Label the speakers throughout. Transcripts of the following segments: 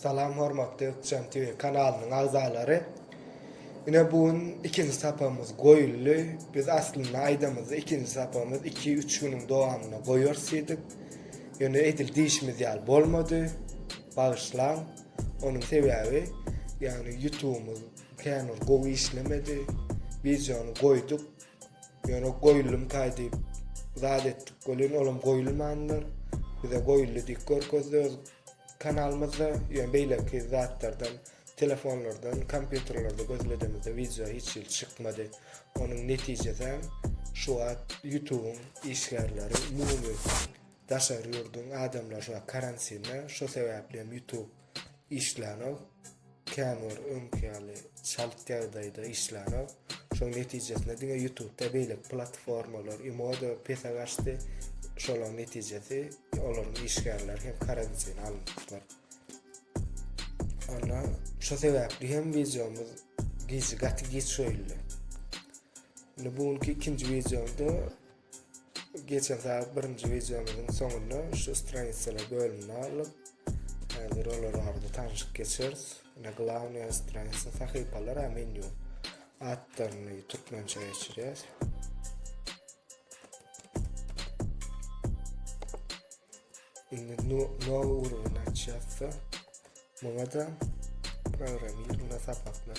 Speaker 1: Salam hormatly Ykjam TV kanalynyň agzalary. Ine bu gün ikinji sapamyz goýuldy. Biz aslynda aýdamyzda ikinji sapamyz iki üç günüň dowamyna goýarys diýdik. Ýöne edil diýşimiz ýaly bolmady. Bagyşlaň. Onuň sebäbi ýagny ýutubymyz kän bir gowy işlemedi. Wideony goýduk. Ýöne goýulymkaý diýip zat etdik welin olam goýulmandyr. Bize goýuldy diýip görkezdi. Kanalymyzda ýöne beýleki zatlardan telefonlardan kompýuterlerde gözledemizde wideo hiç hili çykmady. Onuň netijesem şu wagt ýutubyň işgärleri umumy daşary ýurduň adamlary şu wagt karantinde şo sebäplem ýutub işlänok. Kän bir öňki ýaly çalt ýagdaýda işlänok. Şoň netijesinde diňe YouTube-da beýleki platformalar imoda pese gaçdy. Şolaň netijesi olaryň işgärleri hem karantin alnypdyr. Onda şu sebäpli hem wideomyz gije gaty geç goýuldy. Indi bu günki ikinji wideomda Geçensaý birinji wideomyzyň soňunda şu stranitsalar bölünýärler. Häzir olar barada tanşyp geçeris. Ine glavnyýa stranitsa sahypalar hem menýu atlaryny türkmençe geçirýäs. Indi nowy urgun açýasda. Muňa da programmirowna sapaklar.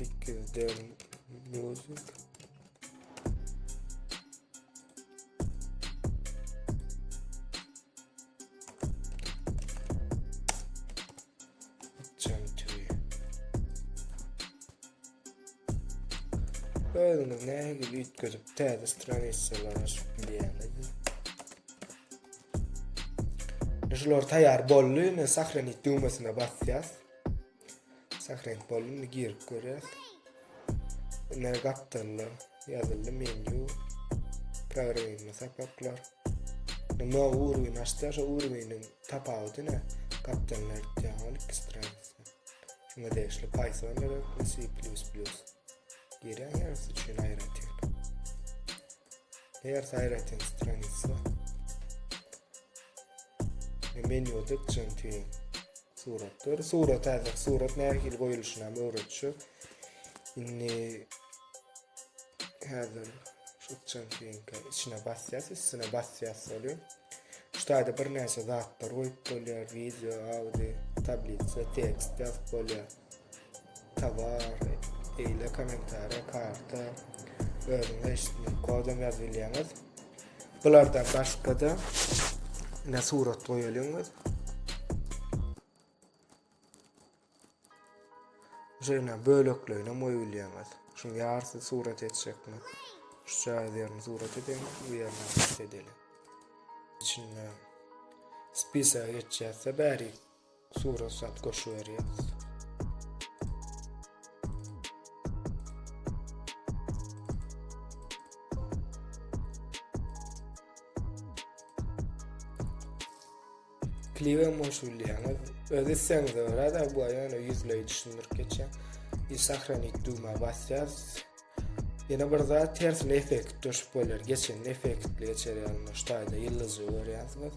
Speaker 1: 8 del music Özüňiz nähe gibi üýtgedip täze stranisiýalar açyp bilýäňiz. Şular taýýar boldy. Indi sahranit düwmesine basýas. Sahrenk boldy. Indi girip görýäs. Ine gapdalda ýazyldy menýu. Programma sapaklar. Nima urgyn açsa şu urgynyň tapawudy ne? Gapdalda ýatan ol iki straniýa. Şuňa degişli Python gerek, C++. Gerek ýersi üçin aýratyn. Ýersi aýratyn straniýa. Menýuda çentin. Suratlar, surat hazır, surat nähili goýuluşyny hem öwretjek. Indi hazır şu çantinka içine basýas, üstüne basýas ýaly. Şu taýda bir näçe zatlar goýup bolýar, video, audio, tablisa, tekst ýazyp bolýar. Tovar, eýle kommentariýa, karta, özüňiz eşitmek, kodam ýazyp bilýäňiz. Bulardan başga-da, ine surat goýalyň biz. Şeýle bölekleýine goýulýaňyz. Şuň ýarsy surat etjekmi? Şu çaýy ýerini surat edelim, bu ýerini surat edelim. İçinde spisa geçýärse bäri Surat sat goşuberýäs. kliwe moş bilýäňiz. Öz islegiňiz görä-de bu ýöne ýüzleýi düşündirip geçýär. Bir sahranit düwmä basýas. Ýene bir zat tersine effekt düşüp bolýar. Geçen effektli geçer ýalyna şu taýda ýyldyzy görýärsiňiz.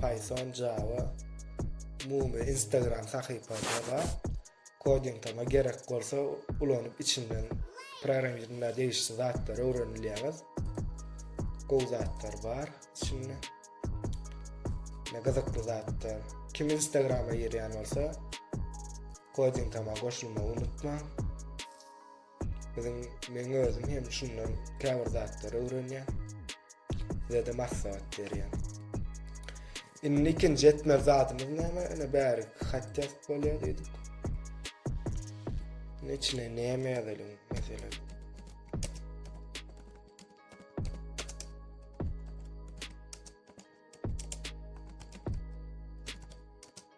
Speaker 1: Python, Java, umumy Instagram sahypasy bar. Koding tama gerek bolsa ulanyp içinden programmirinde degişli zatlar öwrenilýäňiz. Gowy zatlar bar içinde. Ne gyzykly zatlar. Kim Instagrama girýän bolsa, koding tama goşulmagy unutmaň. Biziň meň özüm hem şundan käbir zatlar öwrenýän. Sizede maslahat berýän. Indi ikinji etmez zadymyz näme? Ene bäri hat ýazyp bolýar diýdik. Ne içine näme ýazalyň meselem?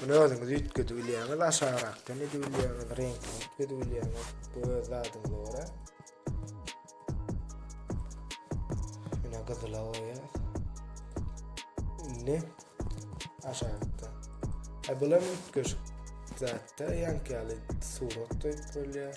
Speaker 1: Muny özüňiz üýtgedip bilýäňiz, aşagrakdan edip bilýäňiz, reňkini üýtgedip bilýäňiz. Bu öz zadyňyza görä. Ine gyzyla goýýas. Indi aşakda. Ha bular üýtgeşik zatda ýanky ýaly surat goýup bolýar.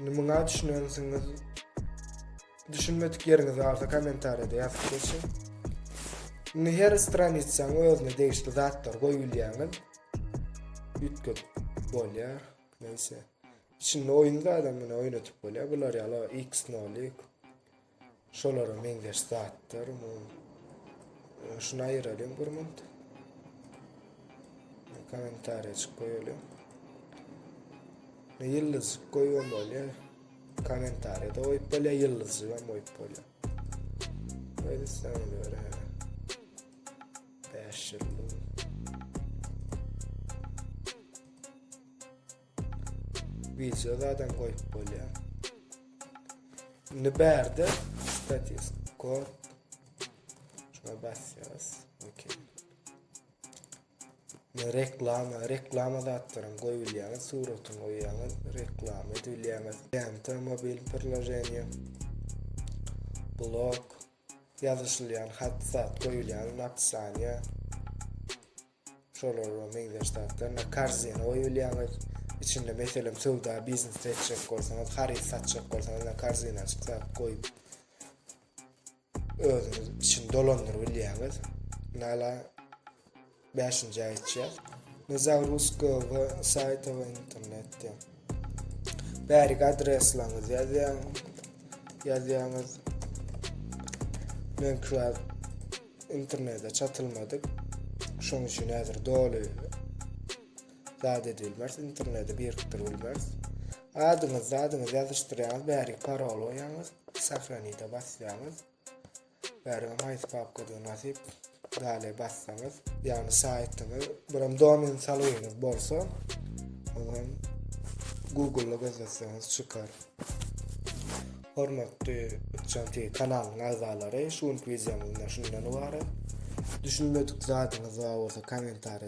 Speaker 1: Indi muňa düşünensiňiz. Düşünmedik ýeriňiz barsa kommentariýada ýazyp geçiň. Indi her stranitsaň özüne degişli zatlar goýup bilýäňiz. Üýtgedip bolýar. Neyse. Içinde oyun zaten bunu oynatıp böyle. Bular yalı X nolik. Şolara meňzeş zatlar mu? Şunu aýyralyň bir minut. Kommentariýajyk goýalyň. Ýyldyz goýuň bolýar. Kommentariýada goýup bolýar, ýyldyzy hem goýup bolýar. Öýde sen görä. 5 ýyldyz. Wideo zadam goýup bolýar. Indi bärde status quo şuna basýarys. Okey. Reklama, reklama zatlaryň goýulýar, suratyň goýýar, reklama edilýär. Lenta mobil priloženiýe. Blog Ýazyşylýan hat zat, goýulýan napisaniýa, şolar bilen meňzeş zatlar. Indi korzina goýulýaňyz. Içinde meselem söwda, biznes etjek bolsaňyz, haryt satjak bolsaňyz, indi korzina açyp zat goýup özüňiz içini dolandyryp bilýäňiz. Nala Bäşinji aýtýar. Ne za russkogo saýta we internetde. Bärik adreslaňyzy ýazýaň. Ýazýaňyz. Men kra internete çatylmadyk. Şoň üçin häzir doly zat edilmez. Internete birikdir bilmez. Adyňyz, zadyňyz ýazyşdyrýaňyz, bärik parol goýýaňyz, sahranida basýaňyz. Bäriňiz haýsy papkadan nasyp dale bassaňyz. Yani saýtyňyz, buram domen salgyňyz bolsa, ondan Google-da gözletseňiz çykar. Hormatly Uçan TV kanalynyň agzalary, şu günki videomyzda şundan ibarat. Düşünmedik zadyňyz bar bolsa kommentariýa